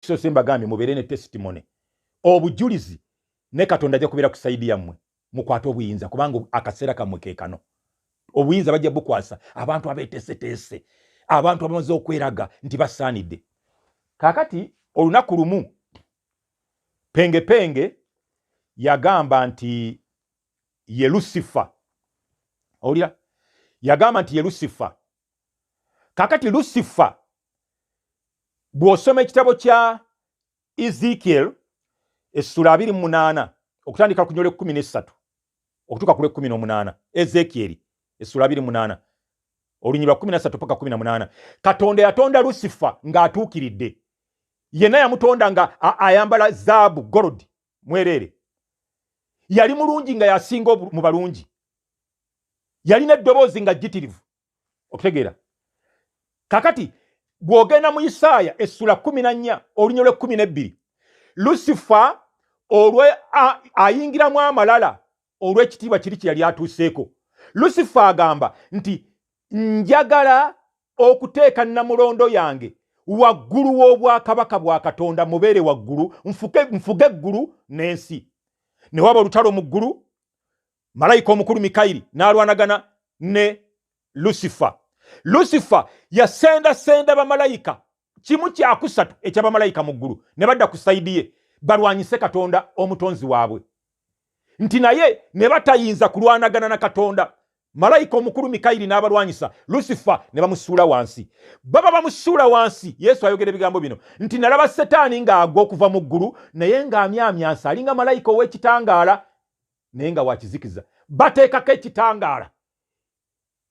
so se mbagambye mubeere ne testimony obujulizi ne katonda ajja kubeera ku saidi yammwe mukwate obuyinza kubanga akaseera kammwe ke kano obuyinza bajja bukwasa abantu abeteeseteese abantu abamaze okweraga nti basaanidde kaakati olunaku lumu pengepenge yagamba nti ye lusifa owulira yagamba nti ye lusifa kaakati lusifa bw'osoma ekitabo kya ezekiel essula abiri mu munaana okutandika ku nyola ekkumi n'essatu okutuuka ku lwekkumi n'omunaana ezekieri essula abiri munaana olunyirwa kkumi na ssatu paka kumi na munaana katonda yatonda lusifa ng'atuukiridde yenna yamutonda nga ayambala zaabu gold mwereere yali mulungi nga yasinga mu balungi yalina eddoboozi nga jjitirivu okitegeera kakati bw'ogenda mu isaaya essula kumi na nnya olunya lw'ekkumi n'ebbiri lusifa olwe ayingiramu amalala olw'ekitiibwa kiri kye yali atuuseeko lusifa agamba nti njagala okuteeka namulondo yange waggulu w'obwakabaka bwa katonda mubeere waggulu nfuge eggulu n'ensi ne waba olutalo mu ggulu malayika omukulu mikayiri n'alwanagana ne lusifa lusifa yasendasenda bamalayika kimu kyakusatu ekya bamalayika mu ggulu ne badda ku sayidi ye balwanyise katonda omutonzi waabwe nti naye ne batayinza kulwanagana na katonda malayika omukulu mikayiri n'abalwanyisa lusifa ne bamusuula wansi baba bamusuula wansi yesu ayogera ebigambo bino nti nalaba setaani ng'agwa okuva mu ggulu naye ng'amyamyansa alinga malayika ow'ekitangaala naye nga wakizikiza bateekako ekitangaala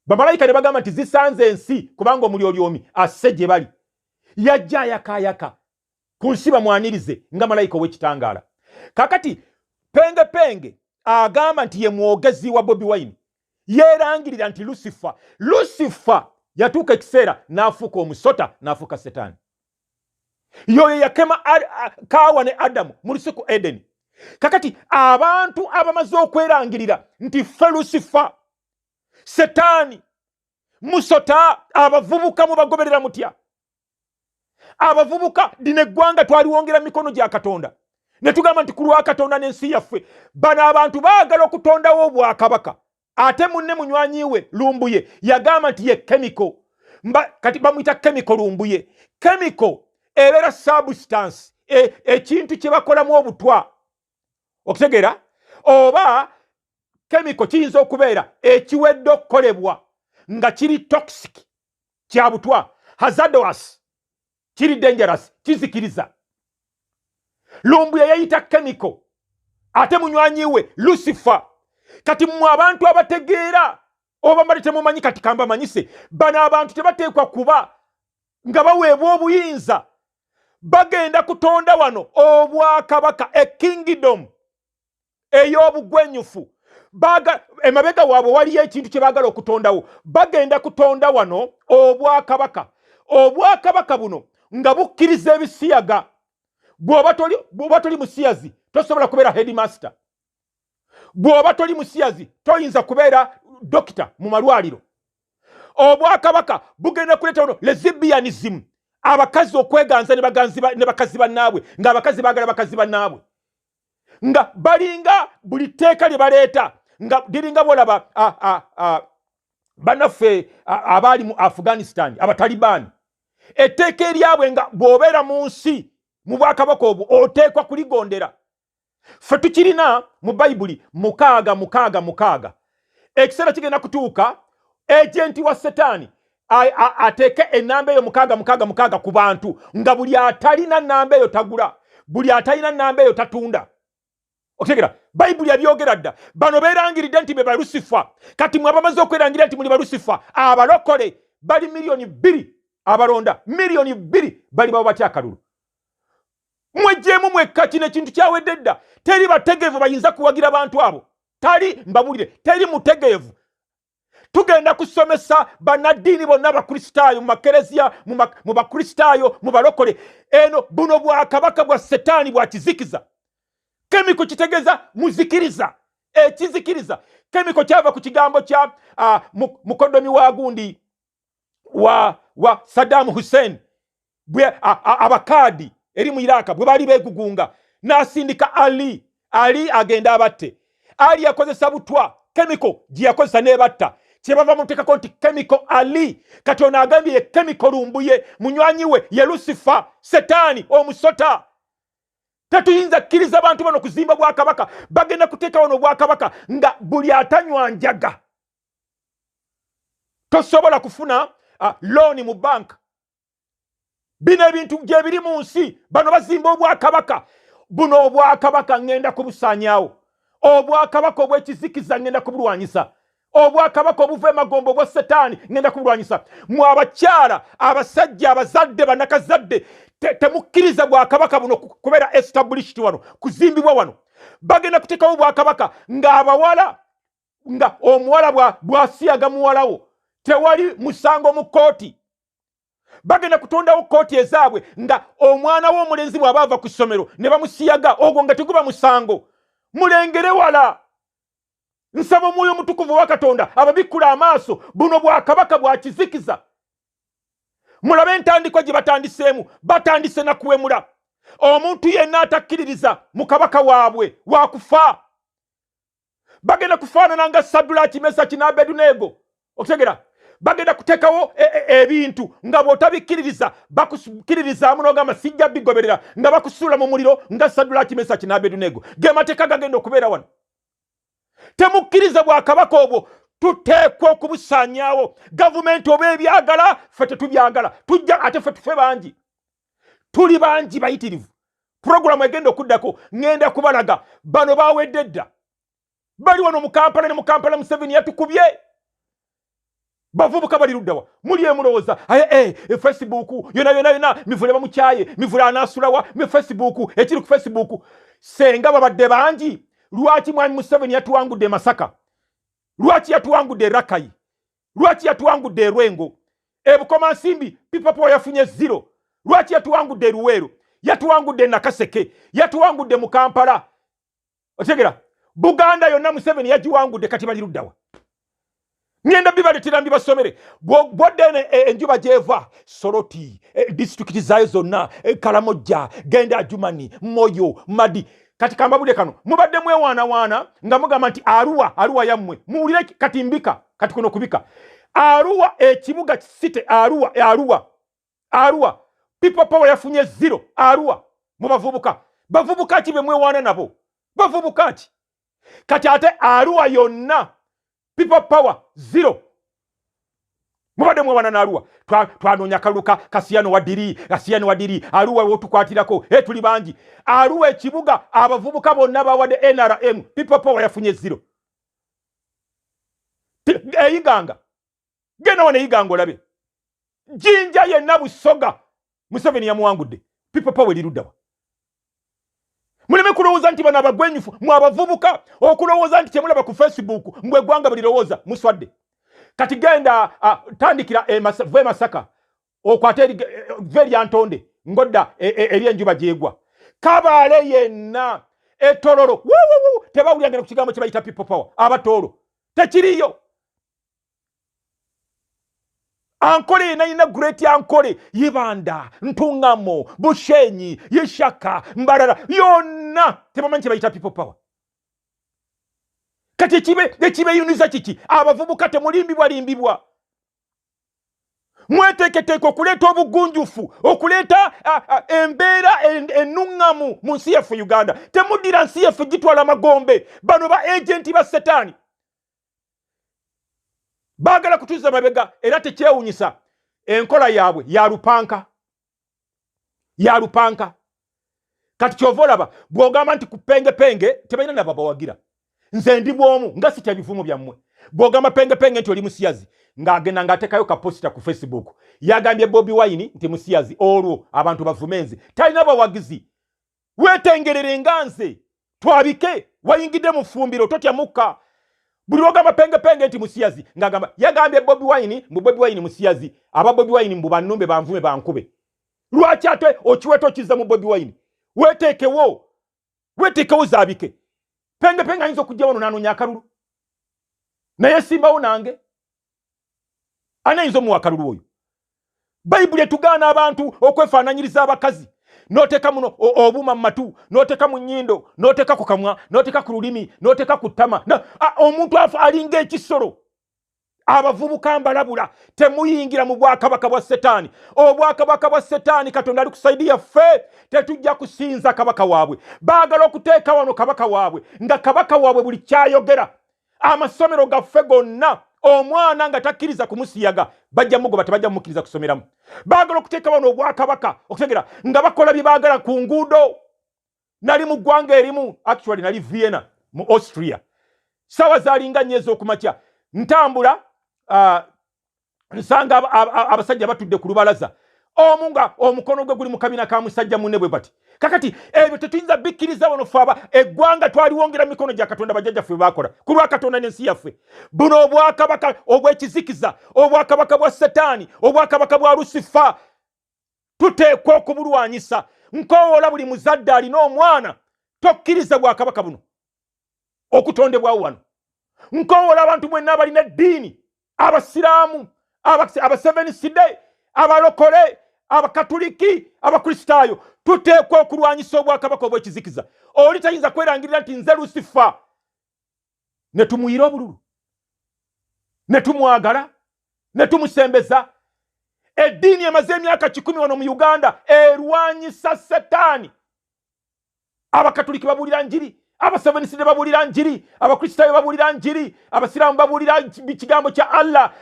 bamalayika ne bagamba nti zisanze ensi kubanga omulyolyomi asse gye bali yajja ayakaayaka ku nsi bamwanirize nga malayika ow'ekitangaala kakati penge penge agamba nti ye mwogezi wa bobi wine yeerangirira nti lusifa lusifa yatuuka ekiseera n'afuuka omusota n'afuuka setaani yoyo yakema kaawa ne adamu mu lusiku edeni kakati abantu abamaze okwerangirira nti ffe lusifa setaani musota abavubuka mubagoberera mutya abavubuka dina eggwanga twaliwongera mikono gya katonda ne tugamba nti ku lwa katonda n'ensi yaffe bano abantu baagala okutondawo obwakabaka ate munne munywanyi we lumbuye yagamba nti ye chemical mba kati bamuyita chemical lumbuye chemical ebeera substance e, ekintu e, kye bakolamu obutwa okutegeera oba chemical kiyinza okubeera ekiwedde okukolebwa nga kiri toxic kya butwa hazardous kiri dangerous kizikiriza lumbuya yayita chemical ate munywanyi we lucifer kati mwe abantu abategeera oba mbadde temumanyi kati kambamanyise bano abantu tebateekwa kuba nga baweebwa obuyinza bagenda kutonda wano obwakabaka a kingdom ey'obugwenyufu emabega waabwe waliyo ekintu kye baagala okutondawo bagenda kutonda wano obwakabaka obwakabaka buno nga bukkiriza ebisiyaga bw'oba toli musiyazi tosobola kubeera headmaster bw'oba toli musiyazi toyinza kubeera dokita mu malwaliro obwakabaka bugenda kuleeta wano lezibianism abakazi okweganza ne bakazi bannaabwe ng'abakazi baagala bakazi bannaabwe nga balinga buli tteeka lye baleeta nga liringa bolaba banaffe abaali mu afghanistan abatalibaani etteeka eryabwe nga bw'obeera mu nsi mu bwakabaka obwo oteekwa kuligondera ffe tukirina mu bayibuli mukaaga mukaaga mukaaga ekiseera kigenda kutuuka ejenti wa setaani ateeke enamba eyo mukaaga mukaaga mukaaga ku bantu nga buli atalina namba eyo tagula buli atalina namba eyo tatunda okitegera bayibuli yabyogera dda bano beerangiridde nti be balusifa kati mwe abamaze okwerangira nti muli balusifa abalokole bali miliyoni bbiri abalonda miliyoni bbiri bali babo batya akalulu mwejjeemu mwekka kino ekintu kyawedde dda teri bategeevu bayinza kuwagira bantu abo tali mbabulire teri mutegeevu tugenda kusomesa banaddiini bonna abakristaayo mu makereziya mu bakristaayo mu balokole eno buno bwakabaka bwa setaani bwa kizikiza kemiko kitegeeza muzikiriza ekizikiriza kemiko kyava ku kigambo kya mukodomi wa gundi wa, wa sadamu hussein bwe abakaadi eri mu iraka bwe baali begugunga n'asindika ali ali agenda abatte ali yakozesa butwa kemiko gye yakozesa n'ebatta kyebava mutekako nti kemiko ali kati ono agambye ye kemiko lumbuye munywanyi we ye lusifa setaani omusota tetuyinza kkiriza bantu bano kuzimba bwakabaka bagenda kuteeka wano obwakabaka nga buli atanywa njaga tosobola kufuna uh, looni mu banka bino ebintu gyebiri mu nsi bano bazimba obwakabaka buno obwakabaka ŋŋenda kubusaanyaawo obwakabaka obw'ekizikiza ŋŋenda kubulwanyisa obwakabaka obuva emagombo obwa setaani ŋenda kubulwanyisa mu abakyala abasajja abazadde banakazadde temukkiriza te bwakabaka buno kubeera established wano kuzimbibwa wano bagenda kuteekawo obwakabaka ng'abawala nga omuwala bwasiyaga muwalawo tewali musango mu kkooti bagenda kutondawo kkooti ezaabwe nga omwana wo omulenzi bw'aba ava ku ssomero ne bamusiyaga ogwo nga teguba musango mulengere wala nsaba omwoyo omutukuvu wa katonda ababikkula amaaso buno bwakabaka bwakizikiza mulabe entandikwa gye batandiseemu batandise na kuwemula omuntu yenna atakkiririza mu kabaka waabwe wakufa bagenda kufaanana nga sadulaki mesaki n'abeduneego okutegera bagenda kuteekawo e, e, ebintu nga bw'otabikkiririza bakukkiririzaamu n'ogamba sijja bigoberera nga bakusuula mu muliro nga sadulaki mesaki n'abeduneego ge mateeka gagenda okubeera wano temukkiriza bwakabaka obwo tuteekwa okubusaanyaawo gavumenti oba ebyagala ffe tetubyagala tujja ate ffe tufe bangi tuli bangi bayitirivu puroguramu egenda okuddako ŋenda kubalaga bano bawedde dda bali wano mukampala ne mukampala museveni yatukubye bavubuka bali luddawa muli emulowooza aye eh, e facebook yona yona yona mivule bamukyaye mivule anasulawa me facebook ekiri ku facebook senga babadde bangi lwaki mwami museveni yatuwangudde e masaka lwaki yatuwangudde e rakayi lwaki yatuwangudde erwengo ebukoma nsimbi pipapo yafunye zero lwaki yatuwangudde eruweero yatuwangudde nakaseke yatuwangudde mu kampala otegera buganda yonna museveni yagiwangudde kati bali luddawa ngenda bibaletera mbibasomere bwoddene e, enjuba gyeva soroti e, disitulikiti zaayo zonna e, kalamojja genda ajumani moyo madi kati kambabude kano mubadde mwewaanawaana nga mugamba nti aruwa aruwa yammwe muwulire kati mbika kati kuno kubika aruwa ekibuga kisite aruwa aruwa aruwa people power yafunye zero aruwa mubavubuka bavubuka ki bemwewaana nabo bavubuka ki kati ate aruwa yonna people power zero mubadde mwawana naaluwa twanoonya kalulu kasiyano wadiri kasiyano wadiri aluwa wotukwatirako e tuli bangi aluwa ekibuga abavubuka bonna bawadde nrm people power yafunye zero eyiganga genda wano eyiga ngolabe jinja yenna busoga museveni yamuwangudde pipo pawe liruddawa muleme kulowooza nti bano abagwenyufu mwe abavubuka okulowooza nti kyemulaba ku facebook mbwe eggwanga bulirowooza muswadde kati genda uh, tandikira e va emasaka okwate e, va eryantonde ngodda e, e, eri enjuba gyegwa kabaale yenna etololo tebawulirangana ku kigambo kyebayita people power abatoolo tekiriyo ankole yena yina great ankole yibanda ntungamo bushenyi yishaka mbarara yona tebamanyi kyebayita people power kati ekibe ekibeyuniza kiki abavubuka temulimbibwa limbibwa mweteeketeeka okuleeta obugunjufu okuleeta embeera enuŋŋamu mu nsi yaffe uganda temuddira nsi yaffe gitwala amagombe bano ba agenti ba setaani baagala kutuuza mabega era tekyewunyisa enkola yaabwe ya lupanka ya lupanka kati kyova olaba bwogamba nti ku pengepenge tebalina nabo bawagira nze ndi bwomu nga sitya bivumo byammwe bwogamba pengepenge nti oli musiyazi ng'agenda ng'atekayo kaposita ku facebook yagambye bobi wine nti musiyazi olwo abantu bavume nze talina bawagizi wetengerere nga nze twabike wayingidde mu ffumbiro totya mukka buli lwogamba pengepenge nti musiyazi ngagamba yagambye bobi wine mbu bobi wine musiyazi aba bobi wine mbu banumbe banvume bankube lwaki ate okiweta okizza mu bobi wine weteekewo weteekewo zabike pengepenge ayinza okujja wano nanonya akalulu naye simbawo nange ani ayinza omuwa akalulu oyo bayibuli etugaana abantu okwefaananyiriza abakazi noteeka muno obuuma mu matu noteeka mu nyindo noteeka ku kamwa noteeka ku lulimi noteeka ku ttama omuntu afa alinga ekisolo abavubuka mbalabula temuyingira mu bwakabaka bwa setaani obwakabaka bwa setaani katonda ali ku saidi yaffe tetujja kusinza kabaka waabwe baagala okuteeka wano kabaka waabwe nga kabaka waabwe buli kyayogera amasomero gaffe gonna omwana nga takkiriza kumusiyaga bajja mugoba tebajja mumukkiriza kusomeramu baagala okuteeka bano obwakabaka okutegera nga bakola bye baagala ku nguudo nali mu ggwanga erimu actually nali vienna mu austria sawa zalinga nnyo ez'okumakya ntambula uh, nsanga abasajja batudde ku lubalaza omu nga omukono gwe guli mu kabina ka musajja munne bwe bati kakati ebyo tetuyinza bikkiriza wano fe aba eggwanga twaliwongera mikono gya katonda bajjajja ffe baakola ku lwa katonda n'ensi yaffe buno obwakabaka obw'ekizikiza obwakabaka bwa setaani obwakabaka bwa lusifa tuteekwa okubulwanyisa nkowoola buli muzadde alina omwana tokkiriza bwakabaka buno okutondebwawo wano nkowoola abantu mwenna abalina eddiini abasiraamu abaseven side abalokole abakatuliki abakristaayo tuteekwa okulwanyisa obwakabaka obwekizikiza oli tayinza kwerangirira nti nze lusifa ne tumuyira obululu ne tumwagala ne tumusembeza eddiini emaze emyaka kikumi wano mu uganda erwanyisa setaani abakatuliki babuulira njiri abaseveniside babuulira njiri abakristaayo babuulira njiri abasiraamu babuulira kigambo kya allah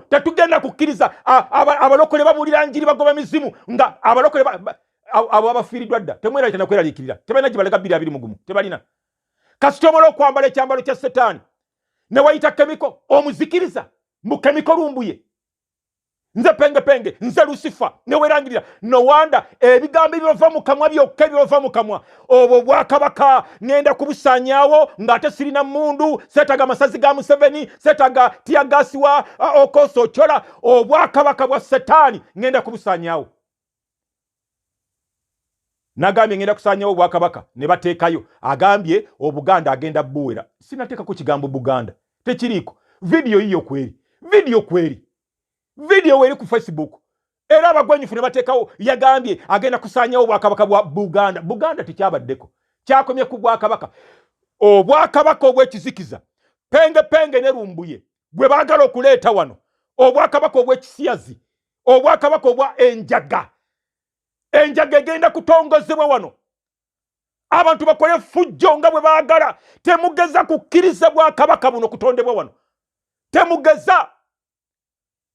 tetugenda kukkiriza abalokole babuulira njiri bagoba mizimu nga abalokole abo abafiiriddwa dda temweralita nakweraliikirira tebalina gye balega bbiri abiri mugumu tebalina kasita omala okwambala ekyambalo kya setaani ne wayita kemiko omuzikiriza mbu kemiko lumbuye nze penge penge nze lusifa newerangirira nowanda ebigambo ebyova mu kamwa byokka ebyova mu kamwa obwo bwakabaka ngenda kubusanyawo ng'ate sirina mundu setaga amasazi ga museveni setaga tiyagasiwa okosa ocola obwakabaka bwa setaani ngenda kubusanyawo nagambye ngenda kusanyawo obwakabaka ne bateekayo agambye obuganda agenda buwera sinateekako kigambo buganda tekiriiko vidiyo yiyo kweri vidiyo kweri vidiyo weri ku facebook era abagwenyufu ne bateekawo yagambye agenda kusanyawo obwakabaka bwa buganda buganda tekyabaddeko kyakomye ku bwakabaka obwakabaka obwekizikiza penge penge ne lumbuye gwe baagala okuleeta wano obwakabaka obwekisiyazi obwakabaka obwa enjaga enjaga egenda kutongozebwa wano abantu bakole fujjo nga bwe baagala temugeza kukkiriza bwakabaka buno kutondebwa wano temugeza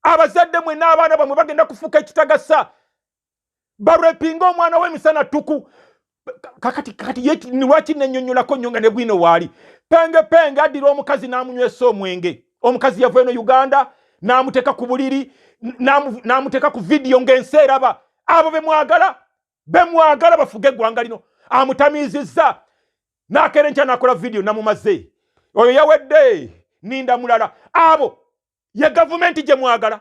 abazadde mwe n'abaana bamwe bagenda kufuuka ekitagasa barepinga omwana wemisana tuku kakati kakati yeti lwaki nenyonyolako nyo nga ne bwino waali penge penge addira omukazi n'amunywesa omwenge omukazi yava eno uganda n'amuteeka ku buliri n'amuteeka ku vidiyo ng'ensi eraba abo bemwagala bemwagala bafuge eggwanga lino amutamiizizza n'akeera enkya n'akola vidiyo namumaze oyo yawedde ninda mulala abo ye gavumenti gye mwagala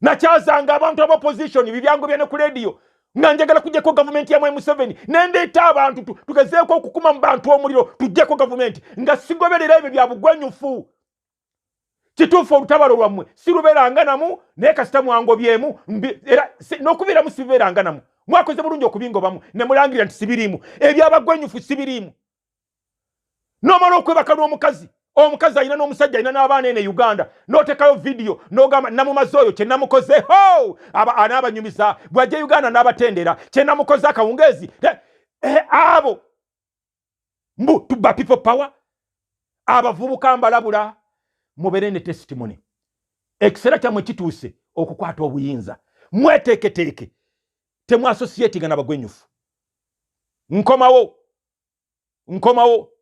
nakyazanga abantu aba opposition bibyangu byane ku radio nga njagala kujjako gavumenti ya mwai museveni nendeeta abantu tugezeeko okukuma mu bantu omuliro tujjeko gavumenti nga sigoberera ebyo bya bugwenyufu kituufu olutabalo lwammwe sirubeeranga namu naye kasita mwangobyemu era n'okubeeramu sibeeranga namu mwakoze bulungi okubingobamu ne mulangirira nti sibiriimu ebyabagwenyufu sibiriimu nomala okwebaka n'omukazi omukazi alina n'omusajja alina n'abaana ene uganda notekayo vidiyo nogamba namumazi oyo kyenamukoze ho anaabanyumiza bwajja e uganda n'abatendera kyenamukoze akawungeezi eh, eh, abo mbu tuba people power abavubuka mbalabula mubere ne testimony ekiseera kyamwe kituuse okukwata obuyinza mweteeketeeke temwasosietinga nabagwenyufu nkomawo nkomawo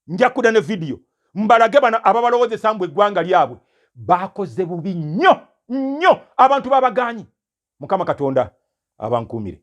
nja kuda ne vidiyo mbalage bano ababalowozesa mbu eggwanga lyabwe bakoze bubi nnyo nnyo abantu babaganyi mukama katonda abankuumire